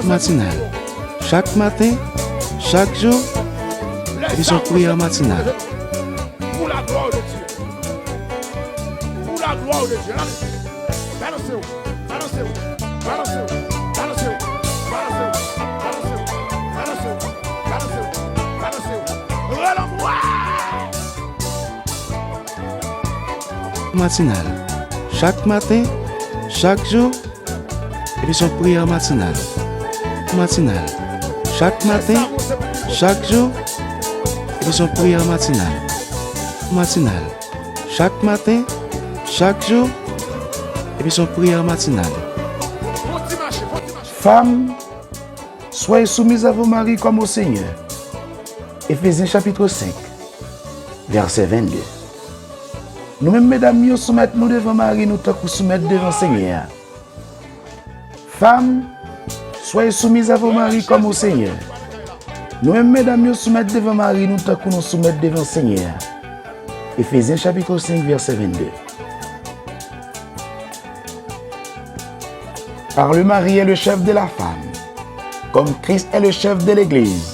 Matinal Chak maten, chak jou, emisyon Priyè Matinal Matinal Chak maten, chak jou, epi son priyè matinal Matinal Chak maten, chak jou, epi son priyè matinal Matinal Chak maten, chak jou, epi son priyè matinal. Fanm, soyez soumiz a vo mari kòm o Senyè. Efezyen chapitr 5. Vèsè 22 Nou menm medam yo, soumèt nou devan mari nou tankou soumèt devan Senyè a. Fanm, soyez soumiz a vos maris kòm o Senyè. Nou menm medam yo, soumèt devan mari nou tankou nou soumèt devan Senyè a. Efezyen chapitro 5 vèsè 22 Kar le mari è le chèf de la fanm, kòm Kris è le chèf de legliz.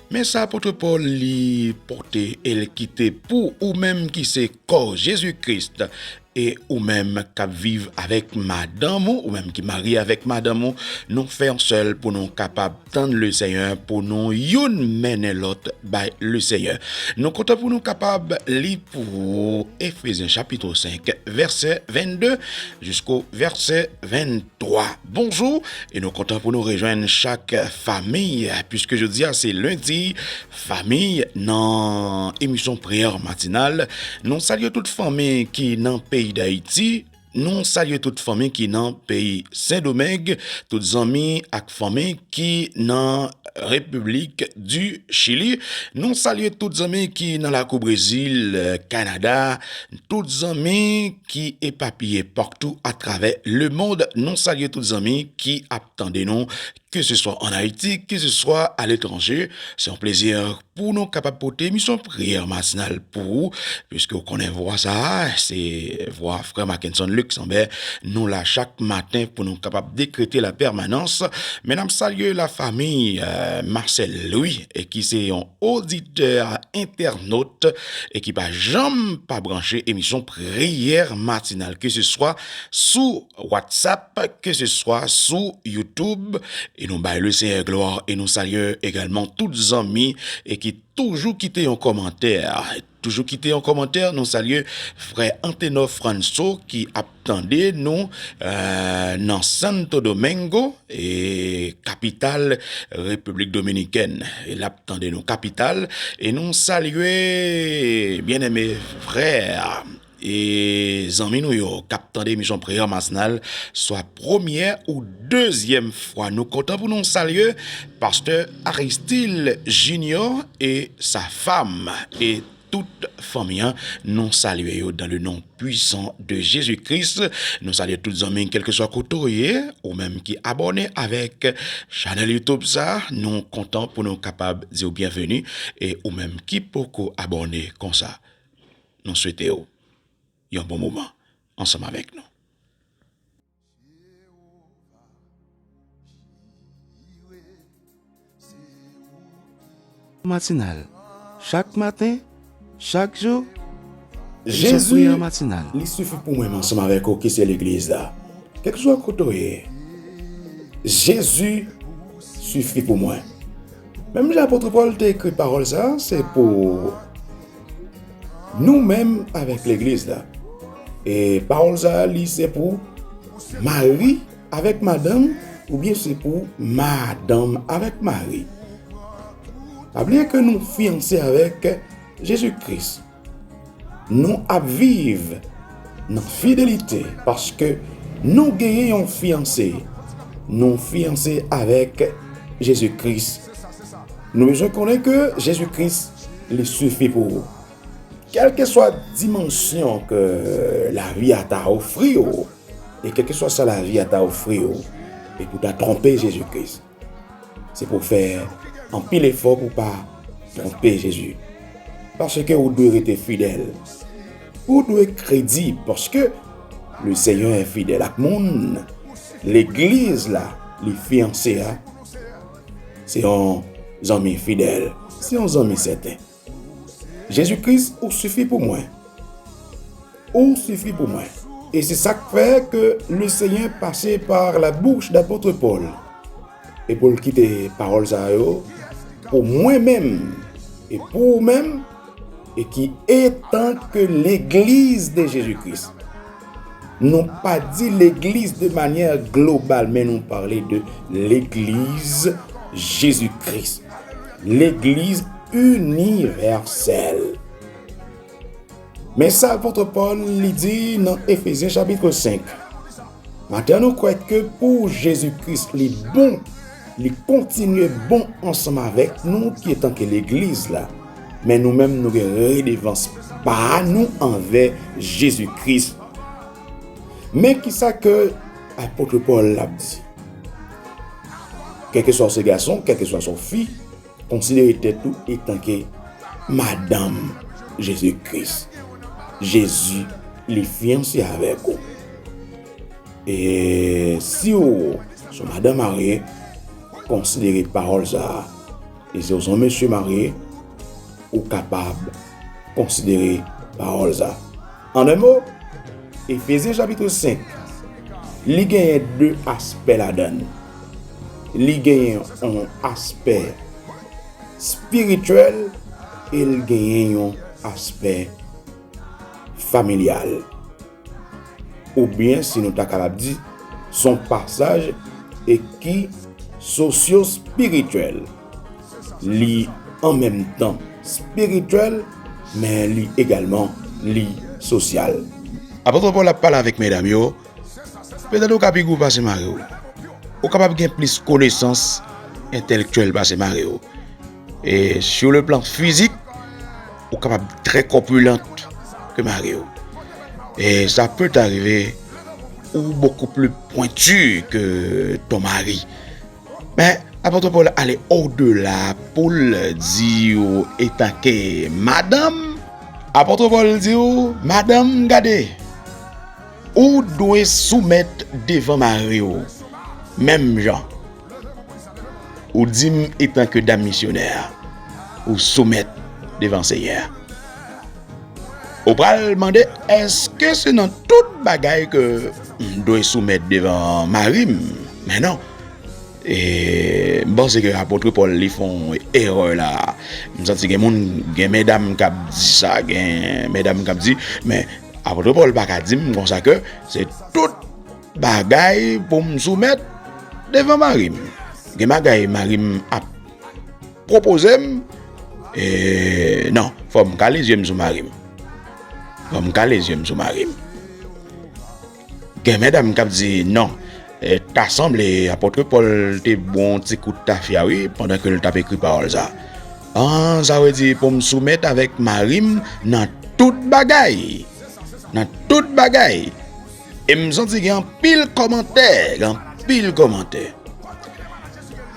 Men sa apotre Pòl li pote e l kite pou ou menm ki se kò Jezi Kris e ou menm k ap viv avèk madanm ou, ou menm ki marye avèk madanm ou, nou fè yon sèl pou nou kapab tann Lesenyè, pou nou youn mennen lòt bay Lesenyè. Nou kontan pou nou kapab li pou ou Efezyen chapitro 5 vèsè 22 jisko vèsè 24. 3. Bonjou e nou kontan pou nou rejwenn chak famiy pwiske jodi a se lendi famiy nan emisyon priyè matinal nou salye tout famiy ki nan peyi dayiti nou salye tout famiy ki nan peyi sendomeng tout zanmi ak Fanmi ki nan Repiblik di Chili, nou salye tout zanmi ki nan lakou Brezil, Kanada, tout zanmi ki epapiye paktou atravè lemond, nou salye tout zanmi ki ap tande nou, keseswa an Ayiti, keseswa aletranje. Se yon plezi Pou nou kapab pote emisyon Priyè Matinal pou ou, piske ou konnen vwa sa a, se vwa frè Mackenson Luxember, nou la chak maten pou nou kapab dekrete la pèmanans. Men ap salye la famiy Marcel Louis e ki se yon oditè entènot e ki pa janm pa branche emisyon Priyè Matinal ke se swa sou WhatsApp, ke se swa sou YouTube e nou bay le Senyè glwa e nou salye egalman tout zanmi e ki toujou kite yon kòmantè toujou kite yon kòmantè nou salye frè Antenor Franso ki ap tande nou nan Santo Domingo e kapital Repiblik Dominikèn e lap tande nou kapital e nou salye byeneme frè E zanmi nou yo kap tande emisyon Priyè Matinal swa premyè ou dezyèm fwa nou kontan pou nou salye Pastè Aristil Jinyò e sa fam e tout fanmi an nou salye yo dan le non pwisan de Jezi Kris nou salye tout zanmi kelke swa kote w ye ou menm ki abòne avèk chanèl youtube sa nou kontan pou nou kapab di w byenveni e ou menm ki poko abòne konsa Nou swete w yon bon moman ansanm avèk nou. Matinal, chak maten, chak jou, Jan priyè an matinal. Li sifi pou mwen m ansanm avèk ou ki se legliz la. Kèlkeswa kote w ye, Jezi sifi pou mwen. Menm jan apòtre Pòl te ekri pawòl sa a, se pou ou. Nou menm avèk legliz la. E pawòl sa a li se pou mari avèk madanm oubyen se pou madanm avèk mari. Pa bliye ke nou fiyanse avèk Jezi Kris. Nou ap viv nan fidelite paske nou genyen yon fiyanse. Nou fiyanse avèk Jezi Kris. Nou bezwen konnen ke Jezi Kris li sifi pou ou. Kèlkeswa dimansyon ke lavi a ta ofri ou, e kèlkeswa sa lavi a ta ofri ou, e pou ta twonpe Jezi Kris. Se pou fè anpil efò pou pa twonpe Jezi. Paske ou dwe rete fidèl. Ou dwe kredib paske le Senyè fidèl ak moun, legliz la, li fiyanse a, Se yon zanmi fidèl. Se yon zanmi sèten. Jezi Kris ou sifi pou mwen. Ou sifi pou mwen. E se sa k fè ke Lesenyè pase par la bouch d'Apôtre Paul e pou l kite pawòl sa yo pou mwen menm e pou ou menm e ki etanke Legliz de Jezi Kris. Nou pa di legliz de manyè global men nou pale de legliz Jezi Kris. Legliz inivèsèl. Men sa apotre Paul li di nan Efesyen chapitre 5. Atè nou kwè ke pou Jezi Kris li bon, li kontinye bon ansanm avèk nou ki etan ke legliz la. Men nou menm nou gen redevans pa nou anvè Jezi Kris. Men ki sa ke apotre Pòl ap di, Kèlkeswa ou se gason, kèlkeswa ou fi, konsidere tèt ou etanke madanm Jezi Kris. Jezi li fiyanse avèk ou. E si ou son madan marye, konsidere pawòl sa a. E si w son mesye marye, ou kapab konsidere pawòl sa. An 1 mo, Efezyen chapitre 5, li genyen 2 aspè ladan l. Li genyen yon aspè spirityèl e l genyen yon aspè familyal. Oubyen si nou ta kapab di, s on pasaj e ki sosyospirityèl. Li an menm tan spirityèl men li egalman li sosyal. Apot Pòl ap pale avèk medam yo, Petèt ou ka pi gwo pase mari w. Ou kapab gen plis konesans entèlektyèl pase mari w. E sou le plan fizik, ou kapab trè kòpilant ke mari ou. E sa pè t'arive ou bokou pli pwentu ke ton mari. Men, Apot Pòl ale ou de la pou l di ou etanke madanm. Apot Pòl di ou, Madanm, gade! Ou dwe soumèt devan mari ou, menm jan. Ou di m etan ke dam misyonè a, ou soumèt devan Senyè a. Ou pral mande, èske se nan tout bagay ke m dwe soumèt devan mari m? Men non. E m panse ke apotre Pòl li fè yon erè la. M santi gen moun, gen medam k ap di sa, gen medam k ap di, men apotre Pòl pa ka di m konsa ke se tout. Bagay pou m soumèt devan mari m. Gen bagay mari m ap pwopoze m, e non, fò m kale zye m sou mari m. Fò m kale zye m sou mari m. Gen medam k ap di non, ta sanble Apòtre Pòl te bo yon ti kout tafya wi pandan ke l t ap ekri pawòl sa a. Sa vle di pou m soumèt avèk mari m nan tout bagay. Nan tout bagay. E m santi gen anpil kòmantè, gen anpil kòmantè.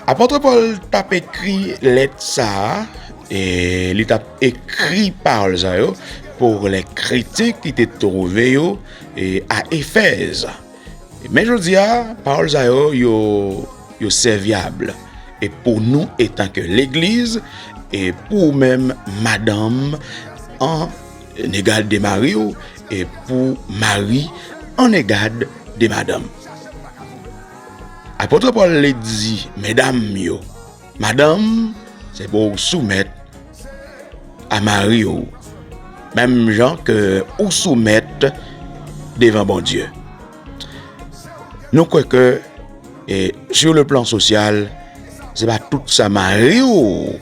Apôtre Paul tap ekri lèt sa a, e li tap ekri pawòl sa yo pou lè kretyen ki te twouve yo e a Efèz. Men jodi a, pawòl sa yo, yo sèvyab e pou nou etanke legliz e pou ou menm madanm an Negad de mari w e pou mari an negad de madanm. Apôtre Paul le di medam yo, madanm se pou w soumèt a mari w menm jan ke ou soumèt devan Bondye. Nou kwè ke e sur le plan social se pa tout sa mari w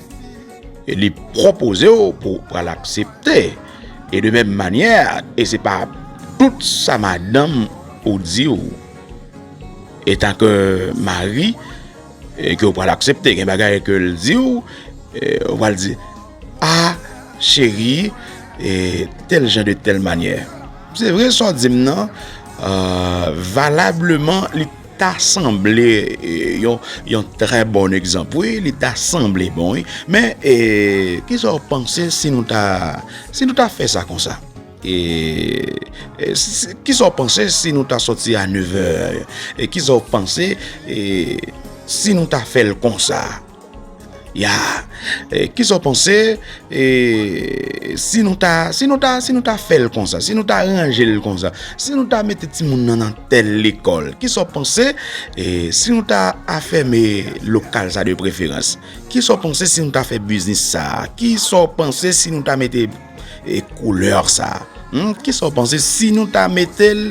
E li pwopoze w pou w pral aksepte. E de menm manyè, e se pa tout sa madanm ou di w etanke mari ke w pral aksepte. Gen bagay ke l di w, ou pral di, A, cheri, e tèl jan de tèl manyè. Se vre sa w di m nan, valableman li. Ta sanble yon trè bon egzanp wi, li ta sanble bon wi. Men, kisa w panse si nou ta fè sa konsa? Kisa w panse si nou ta soti a nevè? Kisa w panse si nou ta fè l konsa? Ya! Kisa w panse si nou ta, si nou ta, si nou ta fè l konsa, si nou ta ranje l konsa, si nou ta mete timoun nan nan tèl lekòl, kisa w panse si nou ta afème lokal sa de preferans? Kisa w panse si nou ta fè biznis sa? Kisa w panse si nou ta mete koulè sa? Kisa w panse si nou ta mete l,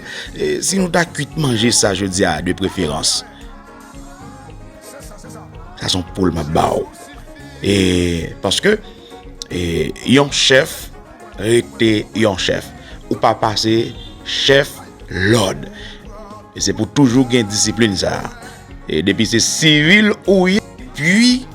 si nou ta kuit manje sa jodi a de preferans? Sa son poul map ba ou. E, paske, e, yon chèf, rete yon chèf. Ou pa pase, chèf, lòd. E se pou toujou gen disiplin sa. E depi se sivil ou ye, pwi,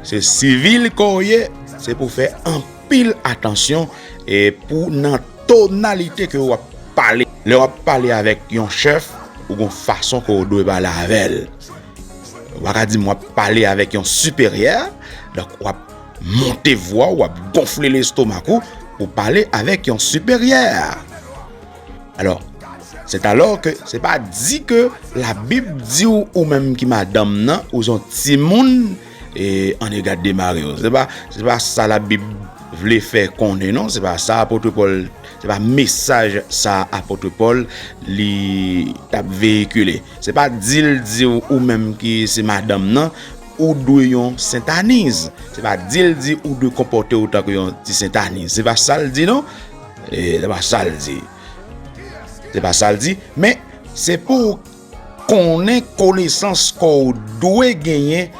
se sivil kon ye, se pou fè anpil atansyon, e pou nan. Tonalite ke ou ap pale. Lè wap pale avèk yon chèf, ou gon fason ke ou dwe pale avèl. Ou pa ka di m wap pale avèk yon siperyè, donk wap monte vwa ou, wap gonfle lestomak ou, pou pale avèk yon siperyè. Alò, se talò ke, se pa di ke la bib di ou, ou menm ki madanm nan, ou son timoun. E an ega demare yo. Se pa se pa sa la bib vle fè konnen non se pa sa apotre Paul se pa mesaj sa apotre Paul li tap veyikile se pa dil diw ou menm ki se madanm nan ou dwe yon sentaniz se pa dil di ou dwe konpote ou tankou yon ti sentaniz se pa sal di non e se pa sal di se pa sal di men se pou Konnen konesans kò ou dwe genyen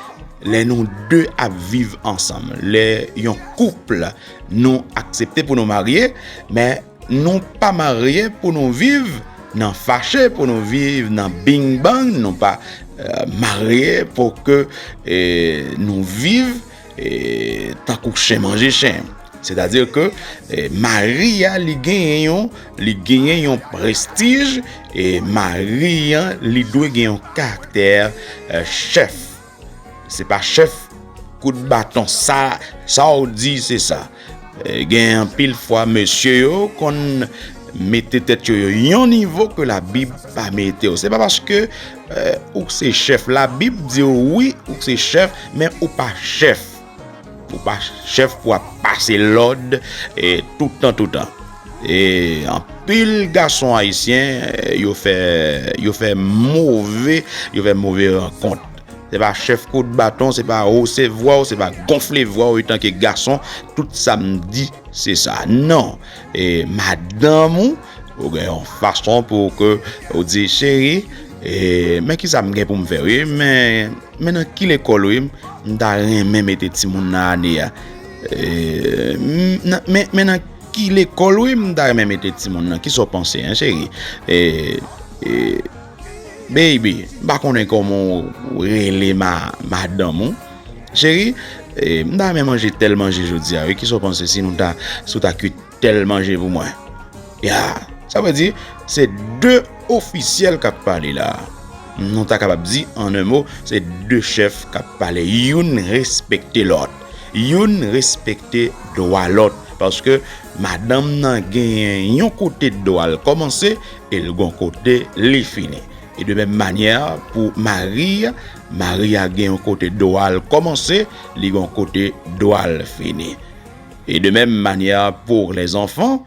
lè nou de ap viv ansanm. Lè yon kouple nou aksepte pou nou marye, men nou pa marye pou nou viv nan fache, pou nou viv nan bing bang, nou pa marye pou ke nou viv Tankou chen manje chen. Sètadi ke mari a li genyen yon, li genyen yon prestij e mari a li dwe gen yon karaktè chèf. Se pa chèf kout baton sa, sa ou di se sa. Gen anpil fwa mesye yo konn mete tèt yo yo yon nivo ke la bib pa mete yo. Se pa paske euh, ou k se chèf. La bib di yo wi ou k se chèf men ou pa chèf. Ou pa chèf pou ap pase lòd e toutan toutan. E anpil gason ayisyen yo fè yo fè move yo fè move rankont. Se pa chèf kout baton, se pa hose vwa ou, se pa gonfle vwa ou etanke gason, tout sa m di se sa. Non, e madanm ou, ou gen yon fason pou ou ke ou di, cheri, e men ki sa m gen pou m fè ou ye, men, men nan ki lekòl ou ye, m ta renmen mete ti moun nan ane a. E, men, men nan ki lekòl ou ye, m ta renmen mete ti moun nan, ki sa ou panse, an cheri? E, e. Baby, m pa konnen kòman ou rele madanm ou. Cheri, m ta renmen manje tèl manje jodi a wi, kisa w panse si w ta kuit tèl manje pou mwen? Ya! Sa vle di, se de ofisyèl k ap pale la a. Nou ta kapab di, an en mo, se de chèf k ap pale. Youn respekte lòt. Youn respekte dwa lòt. Paske madanm nan genyen yon kote dwa l kòmanse. E l gon kote li fini. E de menm manyè pou mari, mari a gen yon kote dwa l kòmanse, li gon kote dwa l fini. E de menm manyè pou lèzanfan,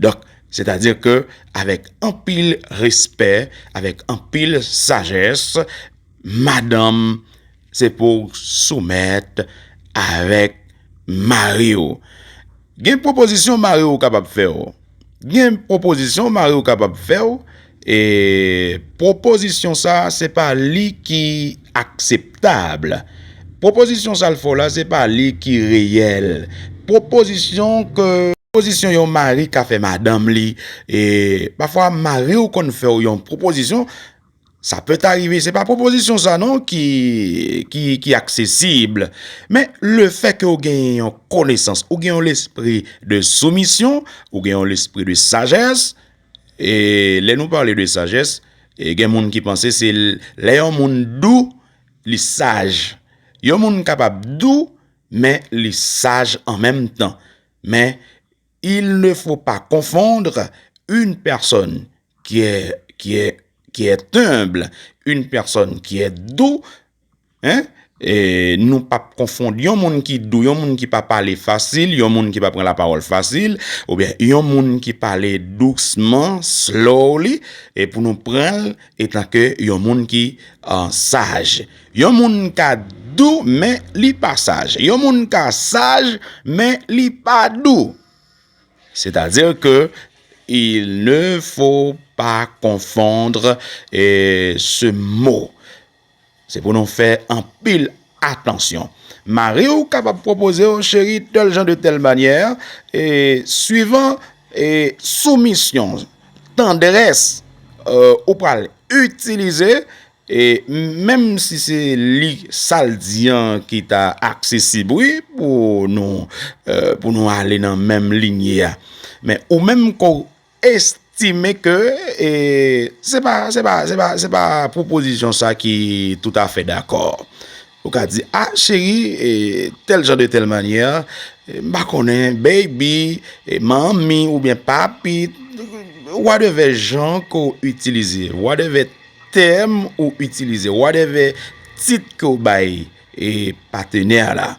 donk, sètadi ke avèk anpil respè, avèk anpil sajès, madanm Se pou w soumèt avèk mari w. Gen pwopozisyon mari w kapab fè w. Gen pwopozisyon mari w kapab fè w. E pwopozisyon sa a se pa li ki akseptab. Pwopozisyon sa l fè w la se pa li ki reyèl. Pwopozisyon ke pwopozisyon yon mari ka fè madanm li. E pafwa mari w konn fè w yon pwopozisyon. Sa pèt arive, se pa pwopozisyon sa non ki aksesib. Men, le fè ke ou gen yon konesans, ou gen yon lespri de soumisyon, ou gen yon lespri de sajès, e lè nou pale de sajès, e gen moun ki panse se lè yon moun dou, li saj. Yon moun kapab dou, men li saj an menm tan. Il ne faut pas confondre une personne qui est humble, une personne qui est doux, nou pa p konfond yon moun ki dou, yon moun ki pa pale fasil, yon moun ki pa pran la pawòl fasil, ou byen yon moun ki pale dousman, slowly, e pou nou pran l etan ke yon moun ki saj. Yon moun ka dou men li pa saj. Yon moun ka saj men li pa dou. Sètadi ke il ne fo pa konfondr se mo. Se pou nou fè anpil atansyon. Mari ou kapab pwopoze ou cheri tèl jan de tèl manyè. E swivan e soumisyon, tandrès ou pral itilize. E menm si se li sa l di an ki ta aksesib wi pou nou pou nou ale nan menm linye a men ou menm ke w estime ke e se pa se pa se pa se pa pwopozisyon sa ki toutafè dakò. Ou ka di, a cheri, e tèl jan de tèl manyè, m pa konnen, baby, e manmi oubyen papi, wadèvè jan ke w itilize, wadèvè tèm ou itilize, wadèvè tit ke w bay e patenè a la.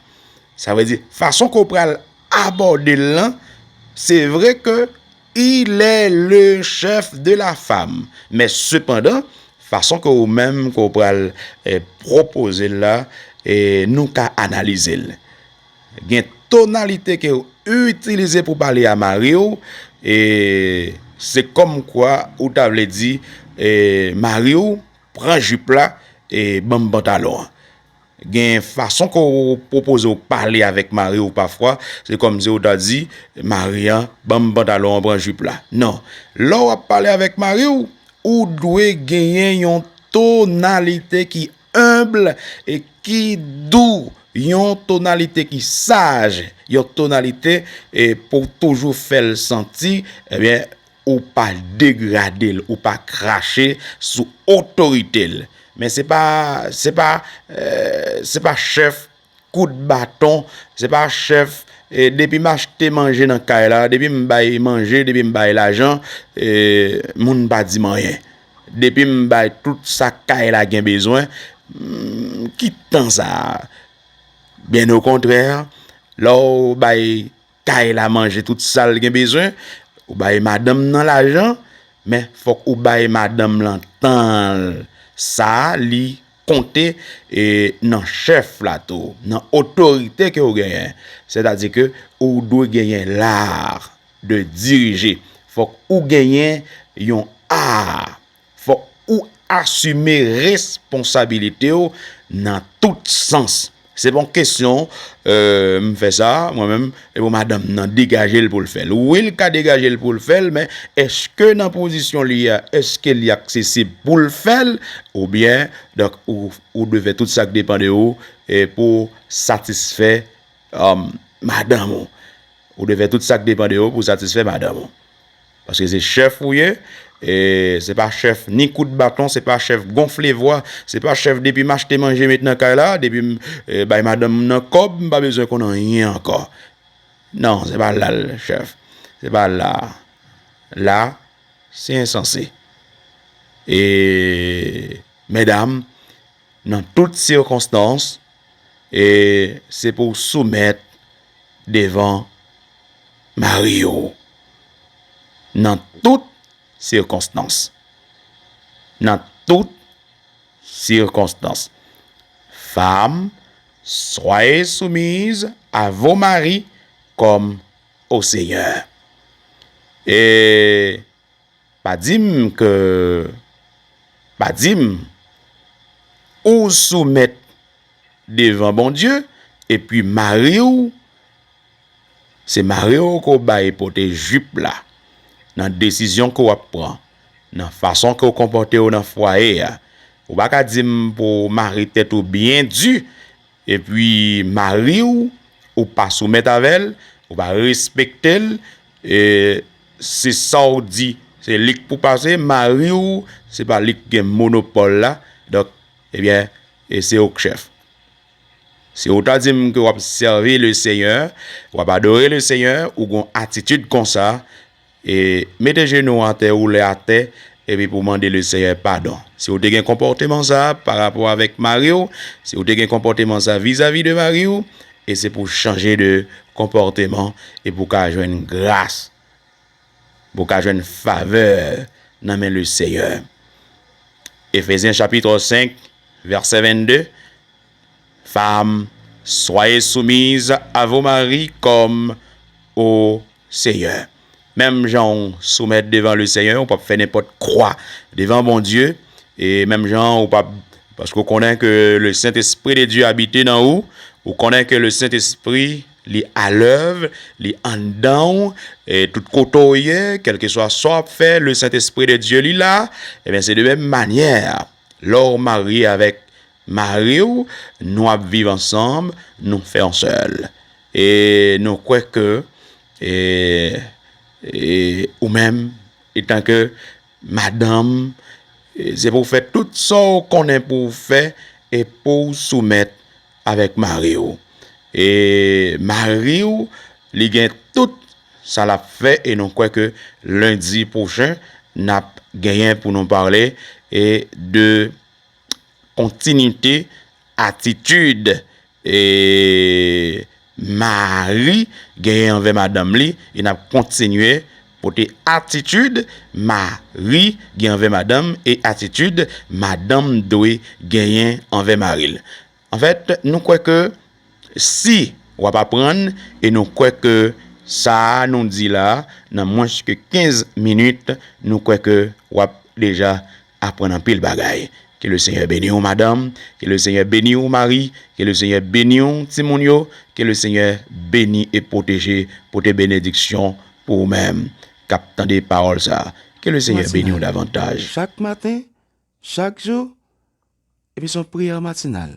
Sa vle di, fason ke w pral abòde l lan, se vre ke. Il est le chef de la femme. Men sepandan, fason ke ou menm ke ou pral pwopoze l la, nou ka analize l. Gen tonalite ke ou itilize pou pale a mari ou, se kòm kwa ou ta vle di mari ou pran jip la e ban m pantalon an. Gen fason ke w pwopoze w pale avèk mari w pafwa, se kòmsi w ta di mari an, ban m pantalon an, pran jip la. Non. Lè w ap pale avèk mari w, ou dwe genyen yon tonalite ki enb e ki dou, yon tonalite ki saj, yon tonalite pou w toujou fè l santi, ebyen, Ou pa degrade l, ou pa krache sou otorite l. Men se pa, se pa, se pa chèf kout baton, se pa chèf depi m achte manje nan kay la, depi m bay manje, depi m bay lajan, moun pa di m anyen. Depi m bay tout sa kay la gen bezwen, ki tan sa a? Byen okontrè, lè w bay. Kay la manje tout sal gen bezwen ou bay madanm nan lajan men fòk ou bay madanm lan tanl sa li konte e nan chèf la tou nan otorite ke ou genyen sètadi ke ou dwe genyen lar de dirije fòk ou genyen yon art. Fòk ou asime responsabilite w nan tout sans. Se pa yon kesyon m fè sa mwen menm e pou madanm m nan degaje l pou l fè l. Wi l ka degaje l pou l fè l men eske nan pozisyon li a eske li aksesib pou l fè l oubyen donk ou dwe fè tout sa k depan de ou pou satisfè madanm ou. Ou dwe fè tout sa k depan de ou pou satisfè madanm ou. Paske se chèf ou ye, e se pa chèf ni kout baton, se pa chèf gonfle vwa, se pa chèf depi m achte manje met nan kay la, depi m bay madanm m nan kòb, m pa bezwen konn anyen ankò. Non, se pa la l chèf. Se pa la a. La a, se ensanse. E, medam, nan tout sikonstans, e se pou w soumèt devan. Marye w nan tout sikonstans. Nan tout sikonstans. Fanm, swaye soumiz a vo mari kòm o Senyè. E pa di m ke, pa di m, ou soumèt devan Bondye epi mari w, Se mare w ke w bay pote jip la nan desizyon ke w ap pran, nan fason ke w konpòte w nan fwaye a. Ou pa ka di m pou w mare tèt ou byen di, epi mari w, ou pa soumèt avè l, ou pa respekte l, e se sa w di, se li k pou pase, mari w, se pa li k gen monopòl la, donk, ebyen, e se ou k chèf. Si ou ta di m ke w ap sèvi Lesenyè, w ap adore Lesenyè, ou gen yon atitid konsa, e mete jenou w atè, woule atè, epi pou w mande Lesenyè padon. Si ou te gen konpòteman sa a parapò avèk mari w, si ou te gen konpòteman sa a vizavi de mari w, e se pou w chanje de konpòteman e pou w ka jwenn gras. pou w ka jwenn favè nan men Leseyè. Efezyen chapitro 5 vèsè 22 Fam, swaye soumiz a vo mari kòm o Seyè. Menm jan w soumèt devan Leseyè, ou p ap fè nenpòt kwa devan Bondye, e menm jan ou p ap, paske ou konnen ke Lesentespri de Dye abite nan ou, ou konnen ke Lesentespri. Li alèv, li anndan w, e tout kote w ye, kèlkeswa sa w ap fè, le Sentespri de Dye li la, ebyen se de menm manyè a, lè w marye avèk mari w, nou ap viv ansanm, nou fè yon sèl. E nou kwè ke e ou menm etanke Madanm, se pou w fè tout sa w konnen pou w fè e pou w soumèt avèk mari w. E mari w, li gen tout sa l ap fè e nou kwè ke lendi pwochen n ap genyen pou nou pale de Kontinite atitid mari genyen anvè madanm li e n ap kontinye pote atitid mari gen anvè madanm e atitid madanm dwe genyen anvè mari l. Anfèt, nou kwè ke si w ap aprann e nou kwè ke sa a nou di la nan mwens ke 15 minit, nou kwè ke w ap deja aprann anpil bagay. Ke le Senyè beni w madanm, ke le Senyè beni w mari, ke le Senyè beni w timoun yo, ke le Senyè beni e pwoteje, pote benediksyon pou ou menm k ap tande pawòl sa a. Ke le Senyè beni w davantaj. Chak maten, Chak jou, epi son priyè matinal.